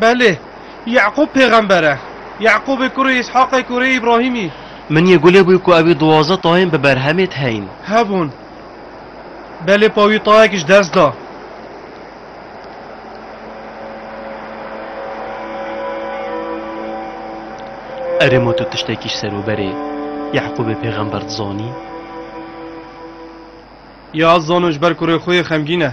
Belê, Ye'qûb pêxember e. Ye'qûbê kurê Îshaqê kurê Îbrahîmî. Min yê gulê bûye ku ewî duwazdeh tayên bi berhemê theyîn. Hebûn. Belê pa wî tayek ji dest da. Erê ma tu tiştekî ji serûberê Ye'qûbê pêxember dizanî? Ya ez zanim ji ber kurê xwe yê xemgîn e.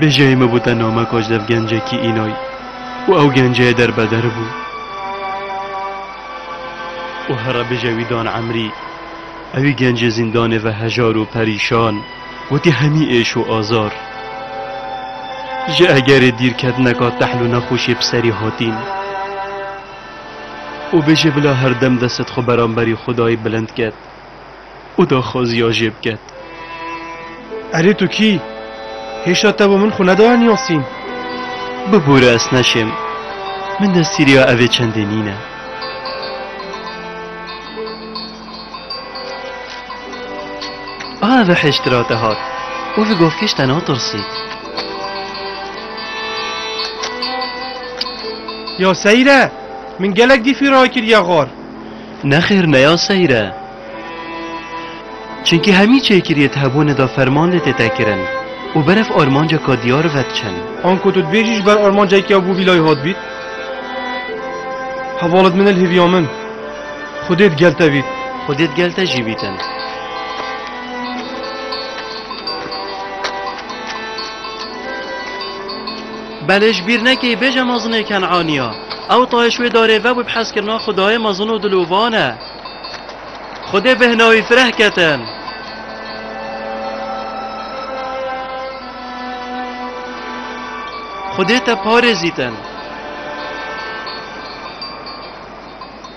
Bêjeyê min bû te name koçdev gencekî înoy û ew genceyê derbeder bû û here bêje wî dan emrî ewî gencê zîndanê ve hejar û perîşan wetî hemî êş û azar ji egerê dîrketineka tehl û nexweşê bi serî hatîn û bêje bila herdem destet xwe beramberî xwedayî bilind ket. û daxwaziya jê biket. Erê tu kî? Hêşa te bo min xwe nedaye Nîyasîn? Bibûre ez neşêm. Min destgîriya evê çendê nîne. Ave hêştira te hat û li govkêş te natirsî. Ya seyre, min gelek dîfî rakiriye xwar. Nexêr neya seyr e. Çimkî hemî çêkiriyê di hebûnê de ferman lê tê tekirin û berf armanceka diyar vediçin. Anko tu dibêjî ji ber armancek ya bû vî layê hat bît? Heval id min il hêviya min. Xwedê di gel te bît. Xwedê di gel te jî bîtin. Belê ji bîr nekê bêje mezinê Ken'anî ya. Ew tayê ji wê darê ve bû bi hezkirina Xwedayê mezin û dilovan e. Xwedê bi hina wî fireh ketin. Xwedê te parêzîtin.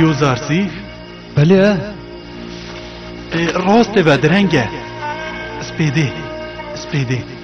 Yozartî? Belê e. Rastê be direng e. Spêdê, spêdê.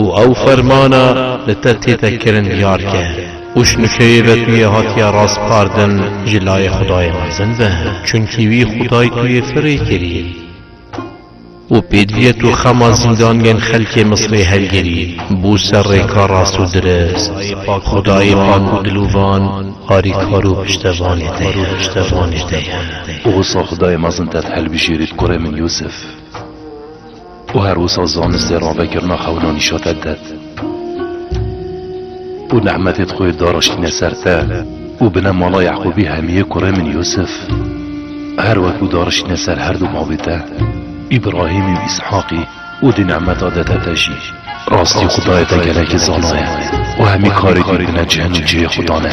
Û ew fermana li te tête kirin diyar ke, Ûş nûkeyê ve tu yê hatiye raspardin ji layê Xudayê mezin be, çunkî wî Xuday tu yê firê kirî. Û pêdiviye tu xema zîndaniyên xelkê Misrê hilgirî, bû ser rêka rast û dirist. Xudayê pak û dilûvan, harîkar û piştevanê te ye, piştevanê te ye. Û wisa Xudayê mezin te dihilbijêrî bi kurê min Yûsif. û her wisa zanistê ra vekirina xewna nîşate te û nehmetê di xwe daraştîne ser te û bine mala Yeqûbî hemiyê kurê min Yûsif her wekû dariştîne ser her du bavê te Îbrahîmî û Îshaqî û di nehmeta dede te jî. Rastî Xwedayê te gelekî zana ye û hemî karê dî bine cihn û cihê xwedan e.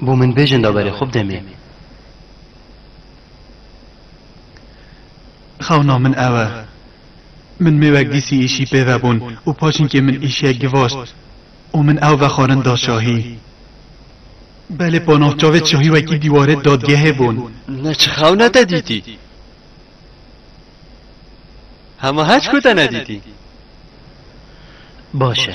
Bo min bêjin da berê xwe bi demê. Xewna min ew e. Min mêwek dîsî îşî pê ve bûn û paşinkê min îşiyek givaşt û min ew vexwarin da şahî. Belê pa nav çavê şahî wekî dîwarê dadgehê bûn. Ne çi xewne te dîtî? Hema heçku te nedîtî. Baş e.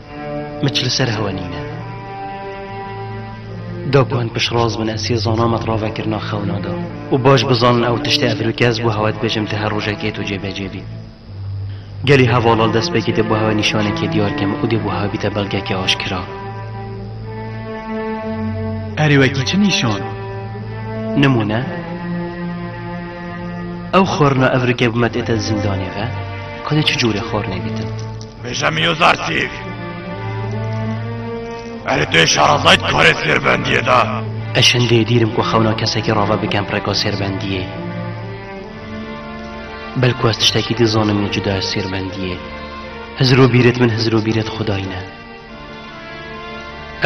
Miç li ser hewa nîne. Da ku hin piştraz bin ez sê zana me di ravekirina xewna de û baş bizanin ew tiştê ev rû ke ez bû hewa dibêjim te her rojek ê tu cêbecê bî. Gelî heva lal destpêkê dê bû hewa nîşanekê diyar ke me û dê bû hewa bîte belgeke aşkira. Erê wekî çi nîşan? Nimûne, ew xwarina ev rû ke bû me dê te di zindanê ve, ka dê çi corê xwarinê bîte? Bêje min yo zarsîv. Erê tu yê şarazayî dikarê sêrbendiyê de. Ez şindê dîrim ku xewna kesekî rave bikem rêka sêrbendiyê. Belku ez tiştekî dizanim lê cuda ez sêrbendiyê. Hizir û bîrêt min hizir û bîrêt Xwedayî ne.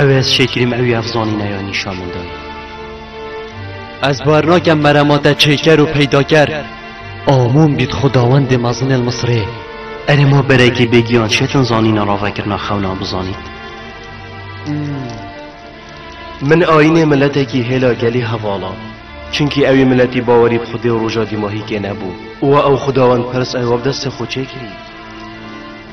Ew ez şêkirîm ew yev zanîne ya nîşan min dayî. Ez bar nakem merema te çêker û peydaker. Amûm bît xudawendê mezin el Misirê. Erê ma berekî bêgiyan çêtin zanîna ravekirina xewna bizanît. Min ayînê miletekî hêla gelî hevala. Çinkî ewî miletî bawerî bi xudê û roja dîmahîkê nebû. Û ew xudawendpirs ew bi destê xwe çêkirî.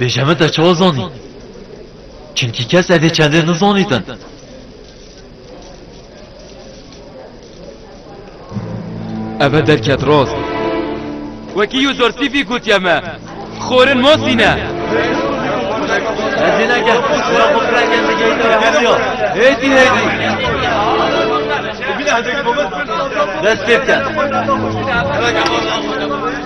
Bêje min te çawa zanî? Çimkî kes evê çendê nizanîtin. Eve derket rast. Wekî Yûzortîfî gotiye me, xorin masîne. Ez ê nekin, wira xwe pirengên digeyîte ve hemiya. Hêdî hêdî. Dest pê bike.